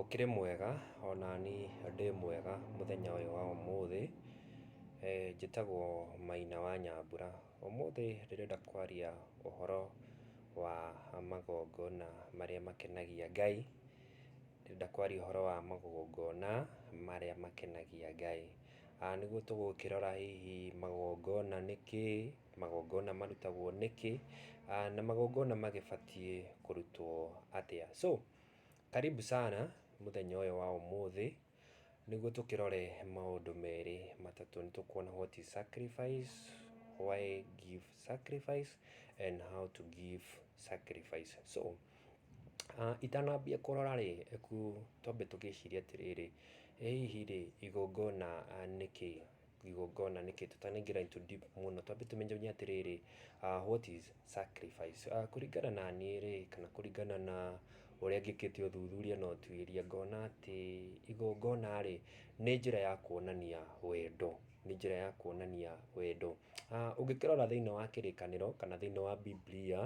Ũkĩrĩ mwega? Onaniĩ ndĩ mwega mũthenya ũyũ wa ũmũthĩ. Njĩtagwo Maina wa Nyambura. Ũmũthĩ ndĩrenda kwaria ũhoro wa magongona marĩa makenagia Ngai. Ndĩrenda kwaria ũhoro wa magongona marĩa makenagia Ngai. Nĩguo tũgũkĩrora hihi magongona nĩ kĩĩ? Magongona marutagwo nĩkĩ, na magongona magĩbatiĩ kũrutwo atĩa? So, karibu sana mũthenya ũyũ wa ũmũthĩ nĩguo tũkĩrore maũndũ merĩ matatũ. Nĩ tũkuona what is sacrifice, why give sacrifice and how to give sacrifice. So, itanambia kũrora rĩ, twambe tũgĩcirie atĩrĩrĩ, ĩ hihi rĩ, igongona nĩ kĩĩ? igongona nĩ kĩĩ, tũtanaingĩra into deep mũno, twambe tũmenye atĩrĩrĩ, what is sacrifice? Kũringana na niĩ rĩ, kana kũringana na ũrĩa ngĩkĩte ũthuthuria na ũtuĩria, ngona atĩ igongona rĩ, nĩ njĩra ya kuonania wendo, nĩ njĩra ya kuonania wendo. Ũngĩkĩrora thĩiniĩ wa kĩrĩkanĩro kana thĩiniĩ wa Bibilia,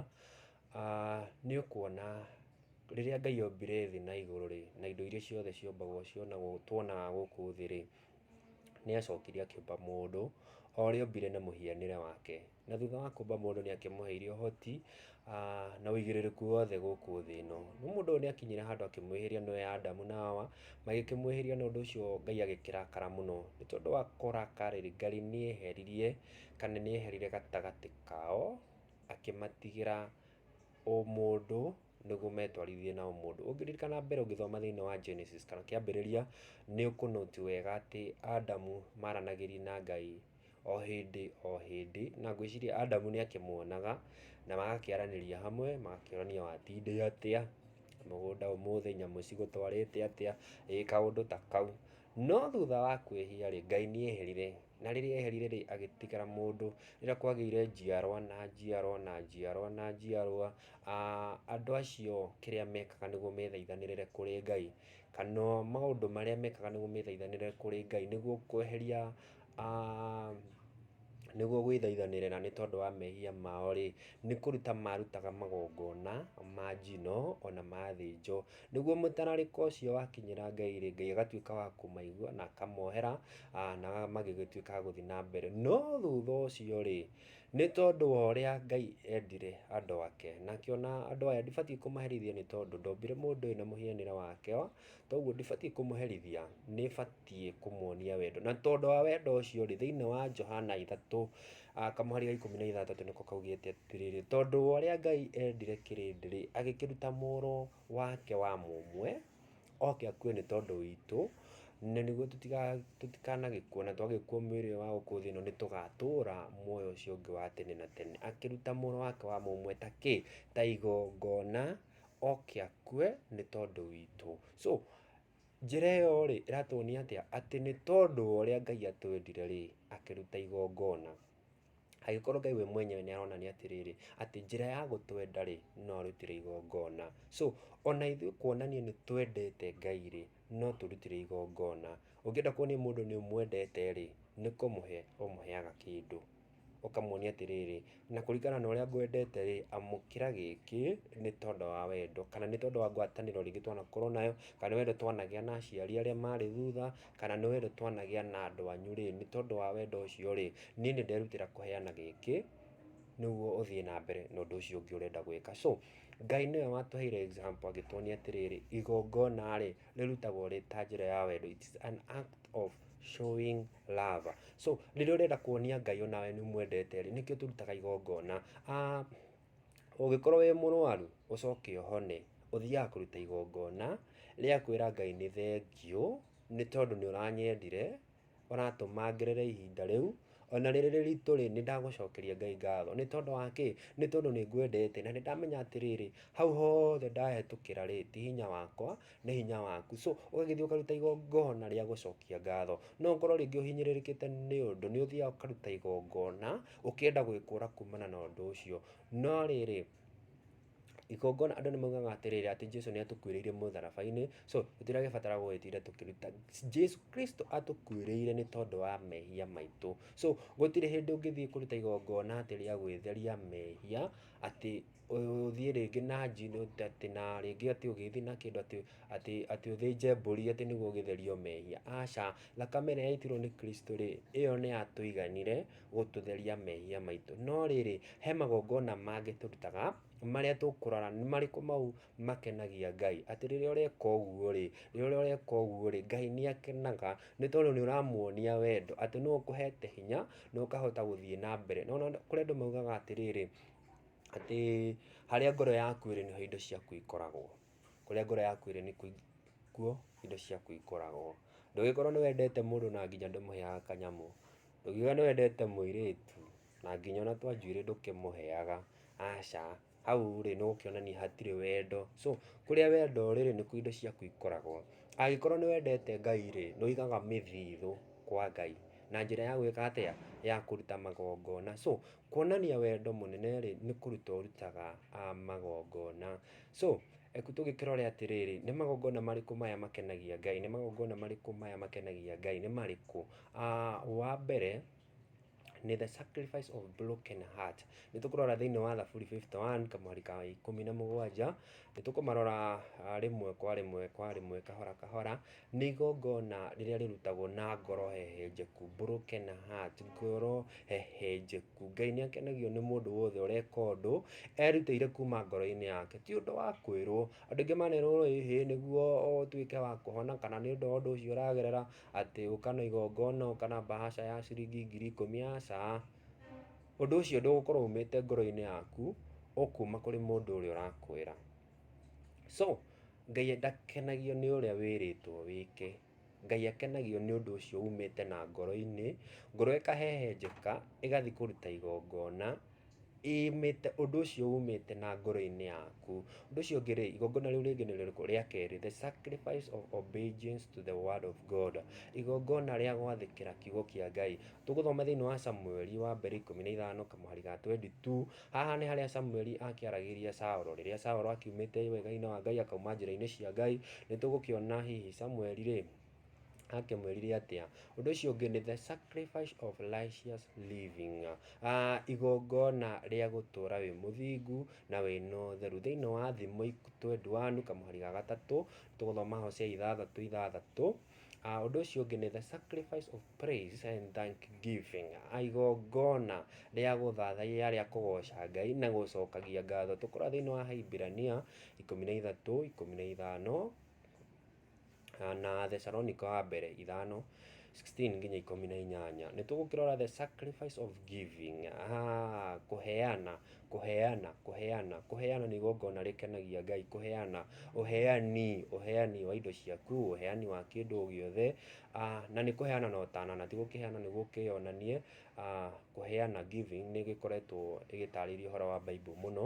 nĩ ũkuona rĩrĩa Ngai ombire thĩ na igũrũ rĩ, na indo iria ciothe ciombagwo tuonaga gũkũ thĩ rĩ, Nĩ acokire akĩũmba mũndũ, o ũrĩa ombire na mũhianĩre wake. Na thutha wa kũũmba mũndũ nĩ akĩmũheire ũhoti, na ũigĩrĩrĩku wothe gũkũ thĩ ĩno. Rĩu mũndũ ũyũ nĩ akinyire handũ akĩmwĩhĩria nĩwe Adamu na Hawa, magĩkĩmwĩhĩria na ũndũ ũcio Ngai agĩkĩrakara mũno. Nĩ tondũ wa kũrakara rĩ, Ngai nĩ eheririe kana nĩ eherire gatagatĩ kao, akĩmatigĩra ũmũndũ. nĩguo metwarithie nao mũndũ. Ũngĩririkana mbere ũngĩthoma thĩinĩ wa Genesis kana kĩambĩrĩria, nĩ ũkũ note wega atĩ Adamu maranagĩria na Ngai o hĩndĩ o hĩndĩ, na ngwĩciria Adamu nĩ akĩmuonaga, na magakĩaranĩria hamwe, magakĩũrania watindĩ atĩa, mũgũnda ũmũthĩ, nyamũ cigũtwarĩte atĩa, ĩĩ kaũndũ ta kau. No thutha wa kwĩhia rĩ, Ngai nĩ eherire, na rĩrĩa eherire rĩ, agĩtigĩra mũndũ. Rĩrĩa kwagĩire njiarwa na njiarwa na njiarwa na njiarwa, Andũ acio kĩrĩa mekaga nĩguo methaithanĩrĩre kũrĩ Ngai, kana maũndũ marĩa mekaga nĩguo methaithanĩrĩre kũrĩ Ngai nĩguo kweheria, nĩguo gwĩthaithanĩrĩra nĩ tondũ wa mehia mao rĩ, nĩ kũruta marutaga magongona ma njino ona ma thĩnjo. Nĩguo mũtararĩko ũcio wakinyĩra Ngai rĩ, Ngai agatuĩka wa kũmaigua na akamohera na magĩgĩtuĩka a gũthiĩ na mbere. No thutha ũcio rĩ... Nĩ tondũ wa ũrĩa Ngai endire andũ ake, nake o na andũ aya ndibatiĩ kũmaherithia nĩ tondũ ndombire mũndũ ũyũ na mũhianĩre wake, toguo ndibatiĩ kũmũherithia, nĩ batiĩ kũmuonia wendo. Na tondũ wa wendo ũcio rĩ, thĩinĩ wa Johana ithatũ, kamũhari ga ikũmi na ithathatũ nĩko kaugĩte atĩrĩrĩ, tondũ wa ũrĩa Ngai endire kĩrĩndĩ rĩ, agĩkĩruta mũrũ wake wa mũmwe, oke akue nĩ tondũ witũ, na nĩguo tũtikanagĩkue, na twagĩkua mwĩrĩ ũyũ wa gũkũ thĩ ĩno nĩ tũgatũra muoyo ũcio ũngĩ wa tene na tene. Akĩruta mũrũ wake wa mũmwe ta kĩ? Ta igongona, oke akue nĩ tondũ witũ. So, njĩra ĩyo rĩ, ĩratuonia atĩa? Atĩ nĩ tondũ wa ũrĩa Ngai atwendire rĩ, akĩruta igongona. Angĩkorwo Ngai we mwenyewe nĩ aronania atĩrĩrĩ, atĩ njĩra ya gũtwenda rĩ, no arutĩre igongona. So, ona ithuĩ kuonania nĩ twendete Ngai rĩ, no tũrutĩre igongona. Ũngĩenda kuonia mũndũ nĩ ũmwendete rĩ, nĩ kũmũhe ũmũheaga kĩndũ. Ũkamuonia atĩrĩrĩ, na kũringana na ũrĩa ngwendete rĩ, amũkĩra gĩkĩ nĩ tondũ wa wendo, kana nĩ tondũ wa ngwatanĩro rĩngĩ twanakorwo nayo, kana nĩ wendo twanagĩa na aciari arĩa marĩ thutha. kana nĩ werũ twanagĩa na andũ anyu rĩ, nĩ tondũ wa wendo ũcio rĩ, niĩ nĩ nderutĩra kũheana gĩkĩ, nĩguo ũthiĩ na mbere na ũndũ ũcio ũngĩ ũrenda gwĩka. So, Ngai nĩwe watũheire example agĩtuonia atĩrĩrĩ, igongona rĩ, rĩrutagwo rĩ ta njĩra ya wendo, it is an act of showing love. So, rĩrĩa ũrenda kuonia Ngai ona we nĩ ũmwendete rĩ, nĩkĩo tũrutaga igongona. Ũngĩkorwo wĩ mũrwaru ũcoke ũhone, ũthiaga kũruta igongona rĩa kwĩra Ngai nĩ thengiũ nĩ tondũ nĩ ũranyendire, ũratũma ngerere ihinda rĩu, ona rĩrĩ rĩritũ rĩ, nĩ ndagũcokeria Ngai ngatho. Nĩ tondũ wa kĩ? Nĩ tondũ nĩ ngwendete na nĩ ndamenya atĩrĩrĩ, hau hothe ndahĩtũkĩra rĩ, ti hinya wakwa, nĩ hinya waku. So ũgagĩthiĩ ũkaruta igongona rĩa gũcokia ngatho. No ũkorwo rĩngĩ ũhinyĩrĩrĩkĩte nĩ ũndũ, nĩ ũthiaga ũkaruta igongona... ũkĩenda gwĩkũra kumana na ũndũ ũcio. No rĩrĩ, igongona andũ nĩ maugaga atĩrĩrĩ atĩ Jesu nĩ atũkuĩrĩire mũtharaba-inĩ, so tũtiragĩbatara gũgĩtinda tũkĩruta. Jesu Kristo atũkuĩrĩire nĩ tondũ wa mehia maitũ. So gũtirĩ hĩndĩ ũngĩthiĩ kũruta igongona atĩ rĩa gwĩtheria mehia, atĩ ũthiĩ rĩngĩ na njino atĩ na rĩngĩ atĩ ũgĩthiĩ na kĩndũ atĩ atĩ atĩ ũthĩnje mbũri atĩ nĩguo ũgĩtherio mehia. Aca, thakame ĩrĩa yaitirwo nĩ Kristo rĩ, ĩyo nĩ yatũiganire gũtũtheria mehia maitũ. No rĩrĩ, he magongona mangĩ tũrutaga marĩa tũkũrora nĩ marĩkũ mau makenagia Ngai. Atĩ rĩrĩa ũreka ũguo rĩ, rĩrĩa ũreka ũguo rĩ, Ngai nĩ akenaga nĩ tondũ nĩ ũramuonia wendo, atĩ nĩ ũkũhete hinya na ũkahota gũthiĩ na mbere. Nĩ wona kũrĩ andũ maugaga atĩrĩrĩ, atĩ harĩa ngoro yaku ĩrĩ nĩho indo ciaku ikoragwo. Kũrĩa ngoro yaku ĩrĩ nĩkuo indo ciaku ikoragwo. Ndũgĩkorwo nĩ wendete mũndũ na nginya ndũmũheaga kanyamũ. Ndũkiuge nĩ wendete mũirĩtu na nginya ona twa njuĩrĩ ndũkĩmũheaga, aca, hau rĩ nĩ gũkĩonania hatirĩ wendo. So kũrĩa wendo ũrĩ rĩ nĩkuo indo ciaku ikoragwo. Angĩkorwo nĩ wendete Ngai rĩ, nĩ ũigaga mĩthithũ kwa Ngai na njĩra ya gwĩka atĩa? Ya kũruta magongona. So kuonania wendo mũnene rĩ nĩ kũruta ũrutaga magongona. So reke tũgĩkĩrore atĩrĩrĩ, nĩ magongona marĩkũ maya makenagia Ngai? Nĩ magongona marĩkũ maya makenagia Ngai? Nĩ marĩkũ? Wa mbere nĩ the sacrifice of broken heart. Nĩ tũkũrora thĩinĩ wa Thaburi fifty one kamũari ka ikũmi na mũgwanja, nĩ tũkũmarora rĩmwe kwa rĩmwe kwa rĩmwe kahora kahora. Nĩ igongona rĩrĩa rĩrutagwo na ngoro hehenjeku, broken heart, ngoro hehenjeku. Ngai nĩ akenagio nĩ mũndũ wothe ũreka ũndũ erutĩire kuuma ngoro-inĩ yake, ti ũndũ wa kwĩrwo. Andũ aingĩ manerwo ĩhĩ nĩguo ũtuĩke wa kũhona kana nĩ ũndũ wa ũndũ ũcio ũragerera atĩ ũka na igongona, ũka na bahasha ya ciringi ngiri ikũmi, aca. Ũndũ ũcio ndũgũkorwo umĩte ngoro-inĩ yaku, ũkuma kũrĩ mũndũ ũrĩa ũrakwĩra. So, Ngai ndakenagio nĩ ũrĩa wĩrĩtwo wĩke, Ngai akenagio nĩ ũndũ ũcio umĩte na ngoro-inĩ, ngoro ĩkahehenjeka, ĩgathiĩ kũruta igongona. Ĩmĩte, ũndũ ũcio umĩte na ngoro-inĩ yaku. Ũndũ ũcio ũngĩ-rĩ, igongona rĩu rĩngĩ nĩ rĩrĩkũ? Rĩa kerĩ, the sacrifice of obedience to the word of God, igongona rĩa gwathĩkĩra kiugo kĩa Ngai. Tũgũthoma thĩiniĩ wa Samueli wa mbere ikũmi na ithano kamũhari ga twendi tu, haha nĩ harĩa Samueli akĩaragĩria Saũlũ, rĩrĩa Saũlũ akiumĩte wega-inĩ wa Ngai akauma njĩra-inĩ cia Ngai, nĩ tũgũkĩona hihi Samueli-rĩ, akĩmwĩrire atĩa ũndũ ũcio ũngĩ nĩ the sacrifice of righteous living uh, igongona rĩa gũtũra wĩ mũthingu na wĩna ũtheru thĩinĩ wa thimo twendwanu kamũhari ga gatatũ tũgũthoma hosea ithathatũ ithathatũ Uh, ũndũ ũcio ũngĩ nĩ the sacrifice of praise and thank giving igongona rĩa gũthathaiya rĩa kũgoca ngai na gũcokagia ngatho tũkora thĩinĩ wa haibirania ikũmi na ithatũ ikũmi na ithano na Thessalonica wa mbere ithano sixteen nginya ikũmi na inyanya nĩ tũgũkĩrora the sacrifice of giving ah, kũheana kũheana kũheana kũheana nĩ igongona rĩkenagia ngai kũheana ũheani ũheani wa indo ciaku ũheani wa kĩndũ o gĩothe ah, na nĩ kũheana na ũtana na ti gũkĩheana nĩ gũkĩonanie ah, kũheana giving nĩ gĩkoretwo ĩgĩtarĩria ũhoro wa bible mũno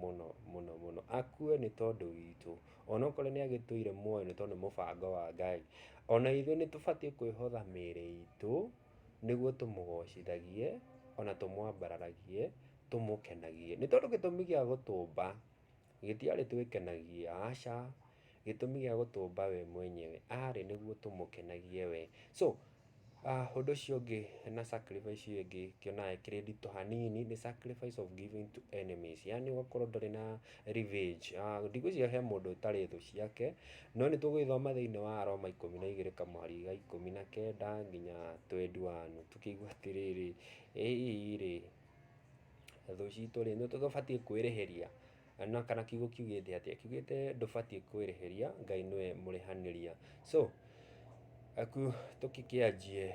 mũno mũno mũno, akue nĩ tondũ witũ, onokorwo nĩ agĩtũire muoyo nĩ tondũ nĩ mũbango wa Ngai, ona ithuĩ nĩ tũbatiĩ kwĩhotha mĩĩrĩ itũ nĩguo tũmũgocithagie ona tũmwambararagie, tũmũkenagie, nĩ tondũ gĩtũmi gĩa gũtũmba gĩtiarĩ twĩkenagie, aca. Gĩtũmi gĩa gũtũmba we mwenyewe arĩ nĩguo tũmũkenagie we. So, ũndũ ũcio ũngĩ na sacrifice ĩyo ĩngĩ ngĩonaga ĩkĩrĩ nditũ hanini nĩ sacrifice of giving to enemies yaani ũgakorwo ndũrĩ na revenge. Ndigwĩciria he mũndũ ũtarĩ thũ ciake, no nĩ tũgũgĩthoma thĩinĩ wa Aroma ikũmi na igĩrĩ kamũari ga ikũmi na kenda nginya twendi wanu tũkĩigue atĩrĩrĩ, ĩ hihi rĩ, thũ citũ rĩ, nĩ tũbatiĩ kwĩrĩhĩria? na kana kiugo kiugĩte atĩa kiugĩte ndũbatiĩ kwĩrĩhĩria ngai nĩwe mũrĩhanĩria so aku tũkĩkĩanjie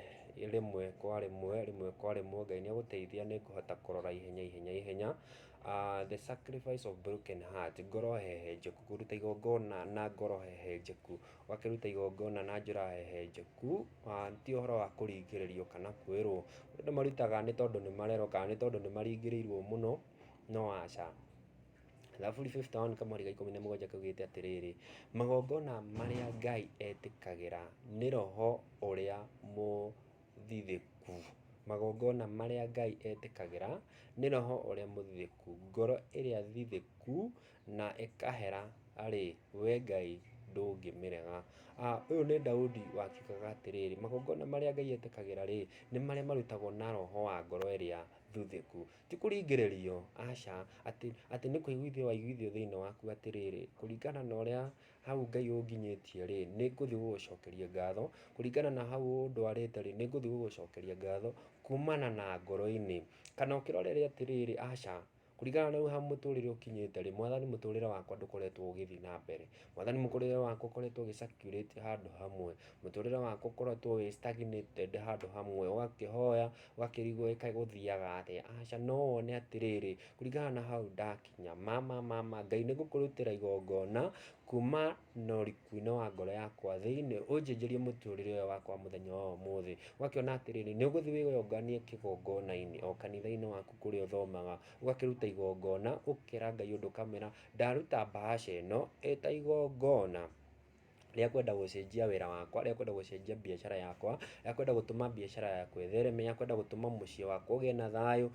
rĩmwe kwa rĩmwe rĩmwe kwa rĩmwe ngai nĩ agũteithia nĩ ngũhota kũrora ihenya ihenya ihenya uh, the sacrifice of broken heart ngoro hehenjeku kũruta igongona na ngoro hehenjeku ũgakĩruta igongona na njĩra hehenjeku uh, ti ũhoro wa kũringĩrĩrio kana kwĩrwo andũ marutaga nĩ tondũ nĩ marerwo kana nĩ tondũ nĩ maringĩrĩirwo mũno No aca. Thaburi 51 kamũari ga ikũmi na mũgwanja kaugĩte atĩrĩrĩ, magongona marĩa Ngai etĩkagĩra nĩ roho ũrĩa mũthithĩku. Magongona marĩa Ngai etĩkagĩra nĩ roho ũrĩa mũthithĩku. Ngoro ĩrĩa thithĩku na ĩkahera rĩ, we Ngai ndũngĩmĩrega. Ũyũ nĩ Daudi wakiugaga atĩrĩrĩ, magongona marĩa Ngai etĩkagĩra rĩ, nĩ marĩa marutagwo na roho wa ngoro ĩrĩa thuthĩku. Ti kũringĩrĩrio, aca, atĩ, atĩ nĩ kũiguithio waiguithio thĩinĩ waku atĩrĩrĩ, kũringana na ũrĩa hau Ngai ũnginyĩtie-rĩ, nĩ ngũthiĩ gũgũcokeria ngatho, kũringana na hau ũndwarĩte-rĩ, nĩ ngũthiĩ gũgũcokeria ngatho kumana na ngoro-inĩ. Kana ũkĩrorere atĩrĩrĩ, aca, kũringana na rĩu ha mũtũrĩre ũkinyĩte-rĩ, Mwathani mũtũrĩre wakwa ndũkoretwo ũgĩthiĩ na mbere. Mwathani mũkũrĩre wakwa ũkoretwo ũgĩ circulate handũ hamwe mũtũrĩre wakwa ũkoretwo wĩ stagnated handũ hamwe ũgakĩhoya ũgakĩrigwo ĩkaĩ gũthiaga atĩa aca no wone atĩrĩrĩ kũringana na hau ndakinya ma ma ma ma Ngai nĩ ngũkũrutĩra igongona kuma na ũriku-inĩ wa ngoro yakwa thĩinĩ ũnjĩnjĩrie mũtũrĩre ũyũ wakwa wa mũthenya wa ũmũthĩ ũgakĩona atĩrĩrĩ nĩ ũgũthiĩ wĩyonganie kĩgongona-inĩ o kanitha-inĩ waku kũrĩa ũthomaga ũgakĩruta igongona ũgakĩra Ngai ũndũ ũkamwĩra Ndaruta bahasha ĩno ĩta igongona rĩa kwenda gũcenjia wĩra wakwa, rĩa kwenda gũcenjia biacara yakwa, rĩa kwenda gũtũma biacara yakwa ĩthereme, rĩa kwenda gũtũma mũciĩ wakwa ũgĩe na thayũ.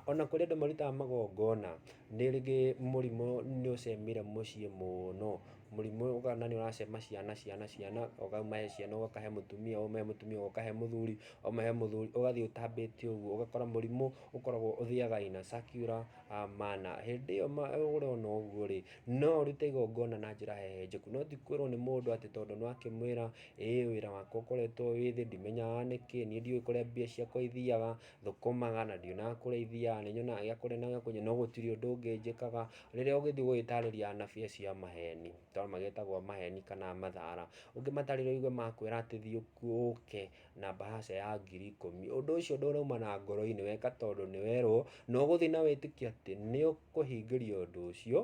Ona kũrĩ andũ marutaga magongona nĩ rĩngĩ mũrimũ nĩ ũcemire mũciĩ mũno, mũrimũ ũkona nĩ ũracema ciana, ciana, ciana, ũkahe ciana ũkahe mũtumia, ũkahe mũtumia ũkahe mũthuri, ũkahe mũthuri ũgathiĩ ũtambĩte ũguo, ũgakora mũrimũ ũkoragwo ũthiaga in a circular. a mana. Hĩndĩ ĩyo ũrona ũguo rĩ, no ũrute igongona na njĩra hehenjeku, no ti kwĩrwo nĩ mũndũ atĩ tondũ nĩ wakĩmwĩra ĩĩ wĩra wakwa ũkoretwo wĩ thĩ, ndimenyaga nĩkĩ, niĩ ndiũĩ kũrĩa mbia ciakwa ithiaga, thũkũmaga na ndionaga kũrĩa ithiaga, nĩ nyonaga gĩa kũrĩa na gĩa kũnyua no gũtirĩ ũndũ ũngĩ njĩkaga. Rĩrĩa ũgĩthiĩ gũgĩtarĩria anabii acio a maheni, tondũ magĩtagwo maheni kana mathara, ũngĩmatarĩria ũigue makwĩra atĩ thiĩ ũke na mbahaca ya ngiri ikũmi. Ũndũ ũcio ndũrauma na ngoro-inĩ, weka tondũ nĩ werwo, na ũgũthiĩ na wĩtĩkie atĩ nĩ ũkũhingĩrio ũndũ ũcio,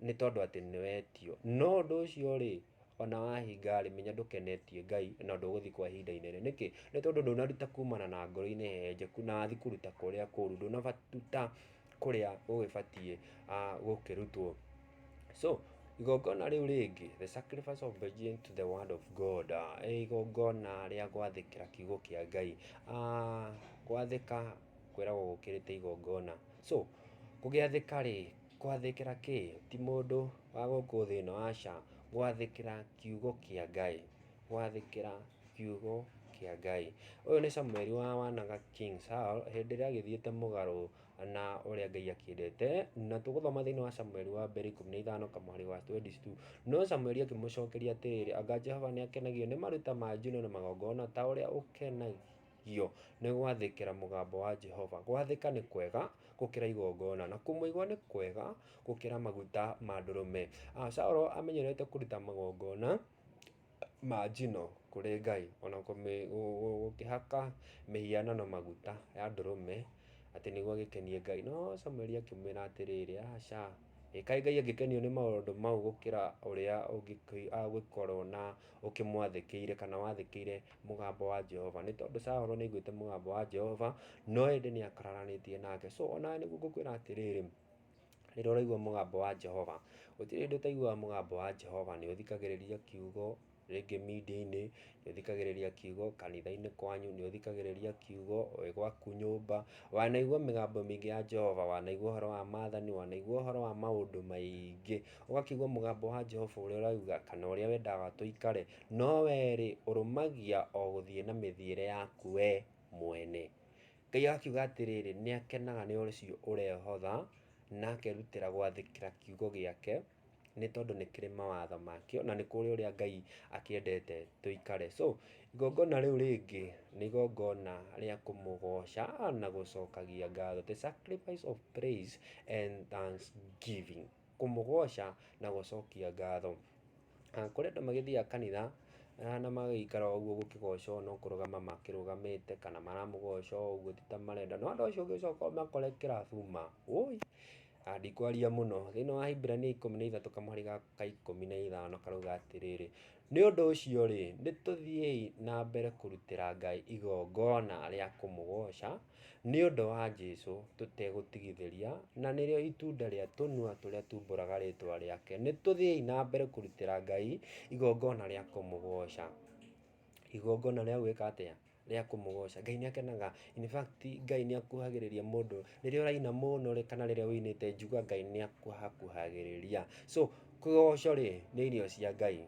nĩ tondũ atĩ nĩ wetio. No ũndũ ũcio rĩ, ona wahinga rĩ, menya ndũkenetie Ngai na ndũgũthiĩ kwa ihinda inene. Nĩkĩ? Nĩ tondũ ndũnaruta kumana na ngoro-inĩ hehenjeku na wathi kũruta kũrĩa kũũru, ndũnaruta. kũrĩa gũgĩbatiĩ gũkĩrutwo. So igongona rĩu rĩngĩ, the sacrifice of obeying to the word of God, igongona rĩa gwathĩkĩra kiugo kĩa Ngai. Gwathĩka kwĩragwo gũkĩrĩte igongona. So kũgĩathĩka rĩ, gwathĩkĩra kĩ? Ti mũndũ wa gũkũ thĩ ĩno, aca, gwathĩkĩra kiugo kĩa Ngai. gwathĩkĩra kiugo kĩa Ngai. Ũyũ nĩ Samueli wa wanaga King Saul hĩndĩ ĩrĩa agĩthiĩte mũgarũ na ũrĩa Ngai akĩendete, na tũgũthoma thĩinĩ wa Samueli wa mbere ikũmi na ithano kamũhari ga twendi tu. No Samueli akĩmũcokeria atĩrĩrĩ, anga Jehova nĩ akenagio nĩ maruta ma njino na magongona ta ũrĩa ũkenagio nĩ gwathĩkĩra mũgambo wa Jehova? Gwathĩka nĩ kwega gũkĩra igongona, na kũmũigua nĩ kwega gũkĩra maguta ma ndũrũme. Saul amenyerete kũruta magongona. ma njino kũrĩ Ngai, ona gũkĩhaka mĩhianano maguta ya ndũrũme atĩ nĩguo agĩkenie Ngai. No Samueli akĩmwĩra atĩrĩrĩ, aca, ĩ kaĩ Ngai angĩkenio nĩ maũndũ mau gũkĩra ũrĩa ũngĩkorwo na ũkĩmwathĩkĩire kana wathĩkĩire mũgambo wa Jehova? Nĩ tondũ Saũlũ nĩ aiguĩte mũgambo wa Jehova, no ĩndĩ nĩ akararanĩtie nake. So onawe nĩguo ngũkwĩra atĩrĩrĩ. rĩrĩa ũraigua mũgambo wa Jehova. Gũtirĩ hĩndĩ ũtaiguaga mũgambo wa Jehova, nĩ ũthikagĩrĩria kiugo, rĩngĩ media-inĩ, nĩ ũthikagĩrĩria kiugo kanitha-inĩ kwanyu, nĩ ũthikagĩrĩria kiugo wĩ gwaku nyũmba, wanaigua mĩgambo mĩingĩ ya Jehova, wanaigua ũhoro wa maathani, wanaigua ũhoro wa maũndũ maingĩ, ũgakĩigua mũgambo wa Jehova ũrĩa ũrauga kana ũrĩa wendaga tũikare, no wee rĩ, ũrũmagia o gũthiĩ na mĩthiĩre yaku wee mwene. Ngai akiuga atĩrĩrĩ, nĩakenaga nĩ ũcio ũrehotha, na akerutĩra gwathĩkĩra kiugo gĩake, nĩ tondũ nĩ kĩrĩ mawatho makĩo, na nĩ kũrĩ ũrĩa Ngai akĩendete tũikare. So, igongona rĩu rĩngĩ nĩ igongona rĩa kũmũgoca na gũcokagia ngatho, the sacrifice of praise and thanksgiving. kũmũgooca na gũcokia ngatho. Kũrĩ andũ magĩthiaga kanitha na magaikara o ũguo gũkĩgocwo no kũrũgama makĩrũgamĩte kana maramũgoca o ũguo ti ta marenda. No andũ acio ũngĩcoka ũmakore kĩrabu ma! Wũi! Ndikwaria mũno. Thĩinĩ wa Ahibirania ikũmi na ithatũ kamũhari gaka ka ikũmi na ithano karauga atĩrĩrĩ, Nĩ ũndũ ũcio-rĩ, nĩ tũthiĩi na mbere kũrutĩra Ngai igongona rĩa kũmũgooca Nĩ ũndũ wa Jesu tũtegũtigithĩria, na nĩrĩo itunda rĩa tũnua tũrĩa tumbũraga rĩtwa rĩake, nĩ tũthiĩi na mbere kũrutĩra Ngai igongona rĩa kũmũgoca. Igongona rĩa gwĩka atĩa? Rĩa kũmũgoca. Ngai nĩ akenaga, in fact Ngai nĩ akuhagĩrĩria mũndũ. Rĩrĩa ũraina mũno rĩ, kana rĩrĩa ũinĩte njua Ngai nĩ akuhakuhagĩrĩria. So kĩgoco rĩ, nĩ irio cia Ngai.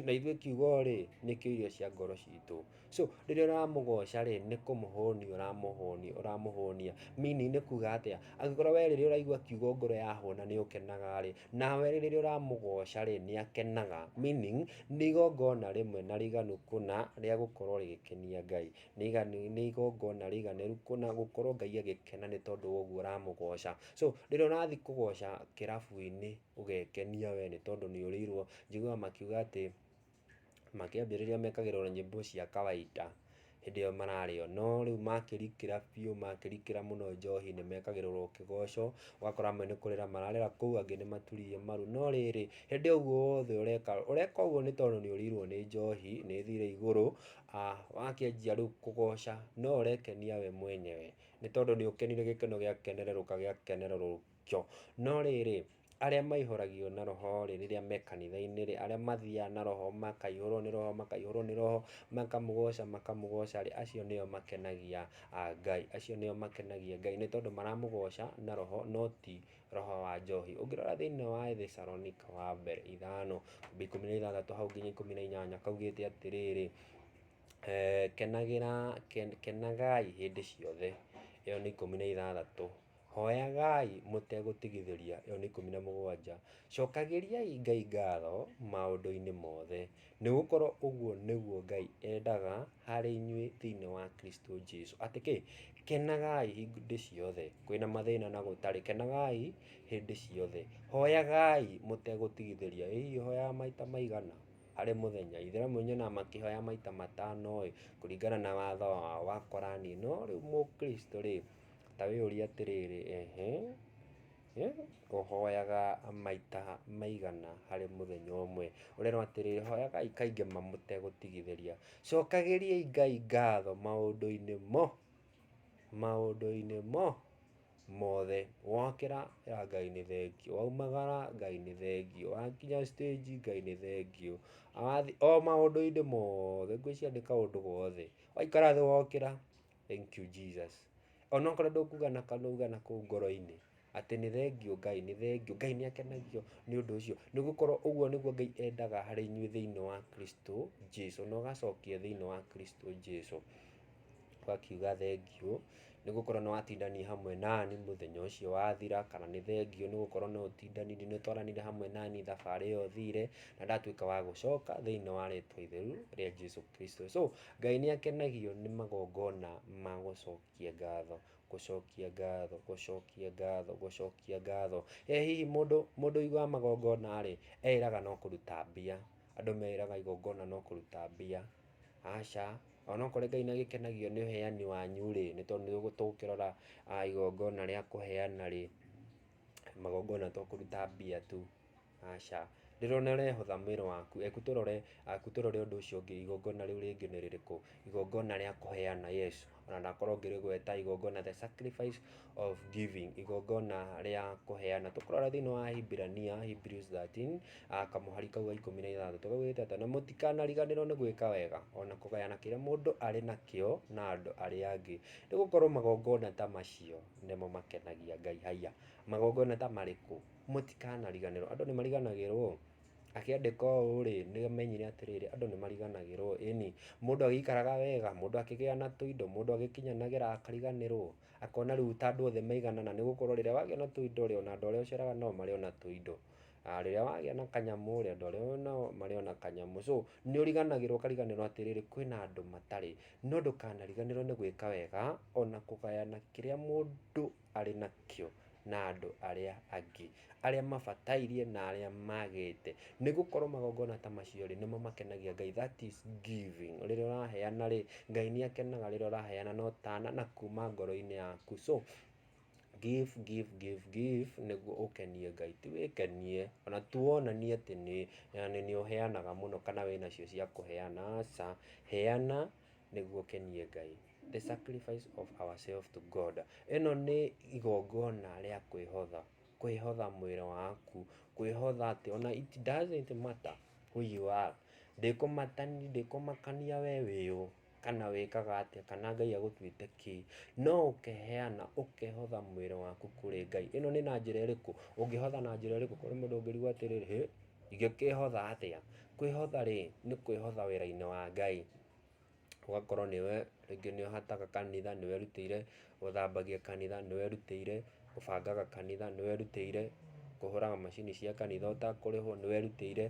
Na ithuĩ kiugo-rĩ, nĩkĩo irio cia ngoro citũ. So, rĩrĩa ũramũgoca-rĩ, nĩ kũmũhũnia ũramũhũnia ũramũhũnia. Meaning nĩ kuuga atĩa? Angĩkorwo wee rĩrĩa ũraigua kiugo ngoro yahũna nĩ ũkenaga-rĩ, nawe rĩrĩa ũramũgoca-rĩ, nĩ akenaga. Meaning nĩ igongona rĩmwe na rĩiganu kũna rĩa gũkorwo rĩgĩkenia Ngai. Nĩ iganu nĩ igongona rĩiganĩru kũna gũkorwo Ngai agĩkena nĩ tondũ wa ũguo ũramũgoca. So, rĩrĩa ũrathi kũgoca kĩrabu-inĩ, ũgekenia we nĩ tondũ nĩ ũrĩirwo. Njiguaga makiuga atĩ makĩambĩrĩria mekagĩrwo na nyĩmbo cia kawaida hĩndĩ ĩyo mararĩo, no rĩu makĩrikĩra biũ, makĩrikĩra mũno njohi nĩ mekagĩrĩrwo kĩgoco, ũgakora amwe nĩ kũrĩra mararĩra kũu angĩ nĩ maturirie maru. No rĩrĩ, hĩndĩ ĩyo ũguo wothe ũreka rĩ, ũreka ũguo nĩ tondũ nĩ ũrĩirwo nĩ njohi, nĩ ĩthire igũrũ, wakĩanjia rĩu kũgoca no ũrekenia we mwenyewe nĩ tondũ nĩ ũkenire gĩkeno gĩakenerũrũka gĩakenerũrũka. kĩo. No rĩrĩ, arĩa maihũragio na roho rĩ, rĩrĩa me kanitha-inĩ rĩ, arĩa mathiaga na roho makaihũrwo nĩ roho, makaihũrwo nĩ roho, makamũgoca, makamũgoca rĩ, acio nĩo makenagia Ngai. Acio nĩo makenagia Ngai nĩ tondũ maramũgoca na roho no ti roho wa njohi. Ũngĩrora thĩinĩ wa Ethesalonika wa mbere ithano, kwambia ikũmi na ithathatũ hau nginya ikũmi na inyanya kaugĩte atĩrĩrĩ, kenagĩra, kenagai hĩndĩ ciothe. Ĩyo nĩ ikũmi na ithathatũ. Hooyagai mũtegũtigithĩria, Yoh. 17. Cookagĩriai Ngai ngaatho maũndũinĩ moothe, nĩgũkorwo ũguo nĩguo Ngai endaga harĩ inyuĩ thĩinĩ wa Kristũ Jesũ. Atĩ kĩ? Kenagai hĩndĩ ciothe kwĩ na mathĩĩna na gũtarĩ, kenagai hĩndĩ ciothe, hooyagai mũtegũtigithĩria. Ĩ hihi ũhooyaga maita maigana harĩ mũthenya? Aithĩramu nyonaga makĩhoya maita matano-ĩ, kũringana na watho wao wa Korani. No rĩu Mũkristũ-rĩ. Ta wĩyũrie atĩrĩrĩ, ehe, ũhoyaga maita maigana harĩ mũthenya ũmwe? Ũrerwo atĩrĩrĩ, hoyagai kaingĩ ma mũtegũtigithĩria. Cokagĩriai Ngai ngatho maũndũ-inĩ mo, maũndũ-inĩ mo mothe. Wokĩra ĩra Ngai nĩ thengiũ, waumagara Ngai nĩ thengiũ, wakinya stage Ngai nĩ thengiũ, wathiĩ, o maũndũ-inĩ mothe. Ngwĩciria nĩ kaũndũ gothe. Waikara thĩ wokĩra. Thank you Jesus. Ona okorwo ndũkuga na kanua uga na kũu ngoro-inĩ atĩ nĩ thengiũ Ngai, nĩ thengiũ. Ngai nĩ akenagio nĩ ũndũ ũcio. Nĩ gũkorwo ũguo nĩguo Ngai endaga harĩ inyuĩ thĩinĩ wa Kristo Jesu. Na ũgacokia thĩinĩ wa Kristo Jesu. Ũgakiuga thengiũ nĩ gũkorwo nĩ watindania hamwe nani mũthenya ũcio wathira, kana nĩ thengiũ nĩ gũkorwo nĩ ũtindanirie, nĩ ũtwaranire hamwe nani thabarĩ ĩyo thire, na ndatuĩka wa gũcoka thĩinĩ wa rĩtwa itheru rĩa Jesu Kristo. So, Ngai nĩ akenagio nĩ magongona ma gũcokia ngatho, gũcokia ngatho, gũcokia ngatho, gũcokia ngatho. Ĩ hihi mũndũ, mũndũ ũiguaga magongona rĩ, eĩraga no kũruta mbia? Andũ meĩraga igongona no kũruta mbia? Aca, ona okorwo Ngai nĩ agĩkenagio nĩ ũheani wanyu rĩ, nĩ tondũ nĩ tũgũkĩrora igongona rĩa kũheana rĩ, magongona to kũruta mbia tu. Aca. Ndĩrona ũrehotha mwĩrĩ waku. Eku tũrore, eku tũrore ũndũ ũcio ũngĩ, igongona rĩu rĩngĩ nĩ rĩrĩkũ? Igongona rĩa kũheana, yes, ona ndakorwo ngĩrĩgweta, igongona the sacrifice of giving, igongona rĩa kũheana. Tũkũrora thĩinĩ wa Ahibirania, Hebrews 13, ah, kamũhari kau ga ikũmi na ithathatũ, kaugĩte atĩ, na mũtikanariganĩrwo nĩ gwĩka wega, ona kũgayana kĩrĩa mũndũ arĩ nakĩo na andũ arĩa angĩ, nĩ gũkorwo magongona ta macio nĩmo makenagia Ngai. Haiya, magongona ta marĩkũ? Mũtikanariganĩrwo. Andũ nĩ mariganagĩrwo? Akĩandĩka ũũ rĩ, nĩ amenyire atĩrĩrĩ, andũ nĩ mariganagĩrwo, ĩni. Mũndũ agĩikaraga wega, mũndũ akĩgĩa na tũindo, mũndũ agĩkinyanagĩra akariganĩrwo, akona rĩu ta andũ othe maiganana, nĩ gũkorwo rĩrĩa wagĩa na tũindo rĩ, ona andũ arĩa ũceraga nao marĩ ona tũindo. Rĩrĩa wagĩa na kanyamũ rĩ, andũ arĩa wĩ nao marĩ ona kanyamũ. So, nĩ ũriganagĩrwo ũkariganĩrwo atĩrĩrĩ, kwĩna andũ matarĩ. No ndũkanariganĩrwo nĩ gwĩka wega, ona kũgayana kĩrĩa mũndũ arĩ nakĩo na andũ arĩa angĩ, arĩa mabatairie na arĩa magĩte. Nĩ gũkorwo magongona ta macio-rĩ, nĩmo makenagia Ngai, that is giving. Rĩrĩa ũraheana-rĩ, Ngai nĩ akenaga rĩrĩa ũraheana na ũtana na kuma ngoro-inĩ yaku. So, give, give, give, give nĩguo ũkenie Ngai, ti wĩkenie. Ona ti wonanie atĩ nĩ ũheanaga mũno kana wĩna cio cia kũheana, aca. Heana. nĩguo ũkenie Ngai. The sacrifice of ourselves to God. Ĩno nĩ igongona rĩa kwĩhotha, kwĩhotha mwĩrĩ waku, kwĩhotha atĩ ona it doesn't matter who you are. Ndĩkũmatani, ndĩkũmakania we wĩ ũ, kana wĩkaga atĩa, kana Ngai agũtuĩte kĩ. No ũkeheana, ũkehotha mwĩrĩ waku kũrĩ Ngai. Ĩno nĩ na njĩra ĩrĩkũ? Ũngĩhotha na njĩra ĩrĩkũ kũrĩ mũndũ ũngĩrigwo atĩrĩrĩ, hĩ, ingĩkĩhotha atĩa? Kwĩhotha-rĩ, nĩ kwĩhotha wĩra-inĩ wa Ngai, ũgakorwo nĩwe rĩngĩ nĩ ũhataga kanitha, nĩ werutĩire gũthambagia kanitha, nĩ werutĩire gũbangaga kanitha, nĩ werutĩire kũhũraga macini cia kanitha ũtakũrĩhwo, nĩ werutĩire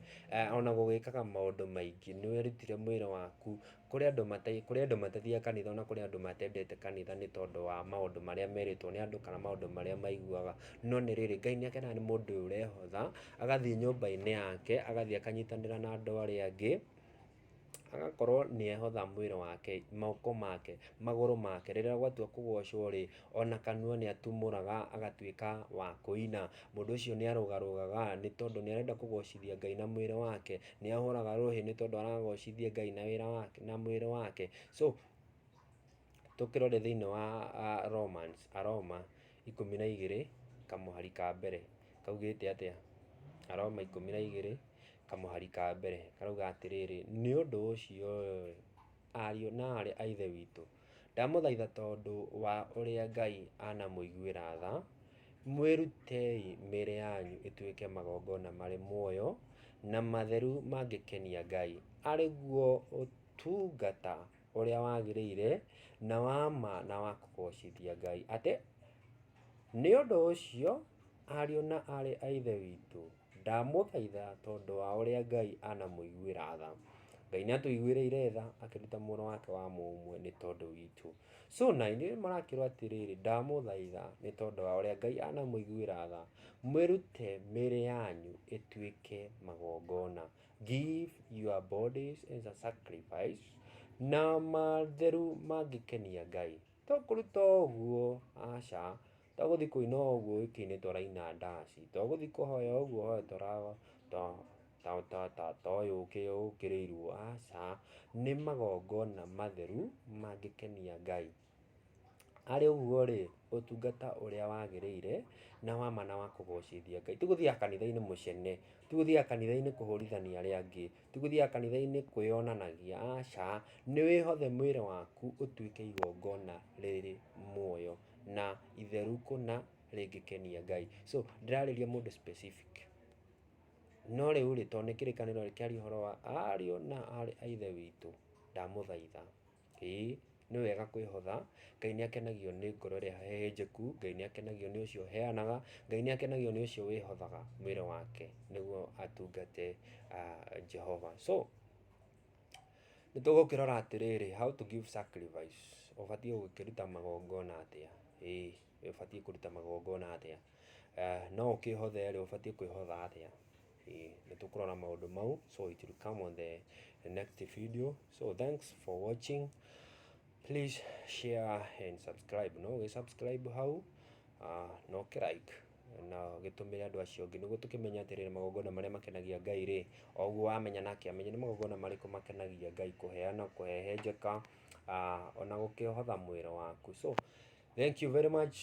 ona gũgĩkaga maũndũ maingĩ, nĩ werutĩire mwĩrĩ waku Kũrĩ andũ mata, kũrĩ andũ matathiaga kanitha ona kũrĩ andũ matendete kanitha nĩ tondũ wa maũndũ marĩa merĩtwo nĩ andũ kana maũndũ marĩa maiguaga. No nĩ rĩrĩ, Ngai nĩ akenaga nĩ mũndũ ũyũ ũrehotha, agathiĩ nyũmba-inĩ yake, agathiĩ akanyitanĩra na andũ arĩa angĩ, agakorwo nĩ ehotha mwĩrĩ wake, moko make, magũrũ make, rĩrĩa gwatua kũgocwo rĩ, Ona kanua nĩatumũraga agatuĩka wa kũina. Mũndũ ũcio nĩarũgarũgaga nĩ tondũ nĩarenda kũgocithia Ngai na mwĩrĩ wake. Nĩahũraga rũhĩ nĩ tondũ aragocithia Ngai na wĩra wake na mwĩrĩ wake. So, tũkĩrore thĩiniĩ wa Romans, Aroma ikũmi na igĩrĩ kamũhari ka mbere, kaugĩte atĩa? Aroma ikũmi na igĩrĩ kamũhari ka mbere karauga atĩrĩrĩ, Nĩ ũndũ ũcio-ĩ, ariũ na aarĩ a Ithe witũ, Ndamũthaitha tondũ wa ũrĩa Ngai anamũiguĩra tha, mwĩrutei mĩĩrĩ yanyu ĩtuĩke magongona marĩ muoyo na matheru mangĩkenia Ngai, arĩ guo ũtungata ũrĩa wagĩrĩire na wa ma na wa kũgoocithia Ngai. Atĩ nĩ ũndũ ũcio, ariũ na aarĩ a Ithe witũ, Ndamũthaitha tondũ wa ũrĩa Ngai anamũiguĩra tha. Ngai nĩatũiguĩrĩire tha akĩruta mwana wake wa mũmwe nĩ tondũ witũ. So na inyuĩ mũrakĩrwo atĩrĩrĩ, ndamũthaitha nĩ tondũ wa ũrĩa Ngai anamũiguĩra tha, mwĩrute mĩĩrĩ yanyu ĩtuĩke magongona, give your bodies as a sacrifice, na matheru mangĩkenia Ngai. To kũruta o ũguo, aca, Togũthiĩ kũina ũguo wiki-inĩ tũraina ndaci, togũthiĩ kũhoya ũguo hoya tũra ta ta ta ta ta ũyũ ũkĩrĩirwo, aca. Nĩ magongona matheru mangĩkenia Ngai. Harĩ ũguo rĩ, ũtungata ũrĩa wagĩrĩire na wa ma na wa kũgocithia Ngai, ti gũthiaga kanitha-inĩ mũcene, ti gũthiaga kanitha-inĩ kũhũrithania arĩa angĩ, ti gũthiaga kanitha-inĩ kwĩyonanagia, aca. Nĩ wĩhothe mwĩrĩ waku ũtuĩke igongona rĩrĩ muoyo. na itheru kũna rĩngĩkenia Ngai. So ndĩrarĩria mũndũ specific. No rĩu rĩ, tondũ nĩ kĩrĩkanĩro rĩ kĩaria ũhoro wa ariũ na aarĩ a Ithe witũ, ndamũthaitha, ĩĩ nĩ wega kwĩhotha, Ngai nĩ akenagio nĩ ngoro ĩrĩa hehenjeku, Ngai nĩ akenagio nĩ ũcio ũheanaga, Ngai nĩ akenagio nĩ ũcio wĩhothaga mwĩrĩ wake nĩguo atungate Jehova. So, Nĩ tũgũkĩrora atĩrĩrĩ, how to give sacrifice, ũbatiĩ gũkĩruta magongona atĩa, ĩĩ ũbatiĩ kũruta magongona atĩa, no ũkĩhothe rĩ, ũbatiĩ kwĩhotha atĩa, ĩĩ nĩ tũkũrora maũndũ mau, so it will come on the next video, so thanks for watching, please share and subscribe, no ũgĩ subscribe hau, na ũkĩ like. na ũgĩtũmĩre andũ acio angĩ, nĩguo tũkĩmenye atĩrĩ, nĩ magongona marĩa makenagia Ngai rĩ, o ũguo wamenya nake amenye nĩ magongona marĩkũ makenagia Ngai, kũheana, kũhehenjeka, ona gũkĩhotha mwĩrĩ waku. So thank you very much.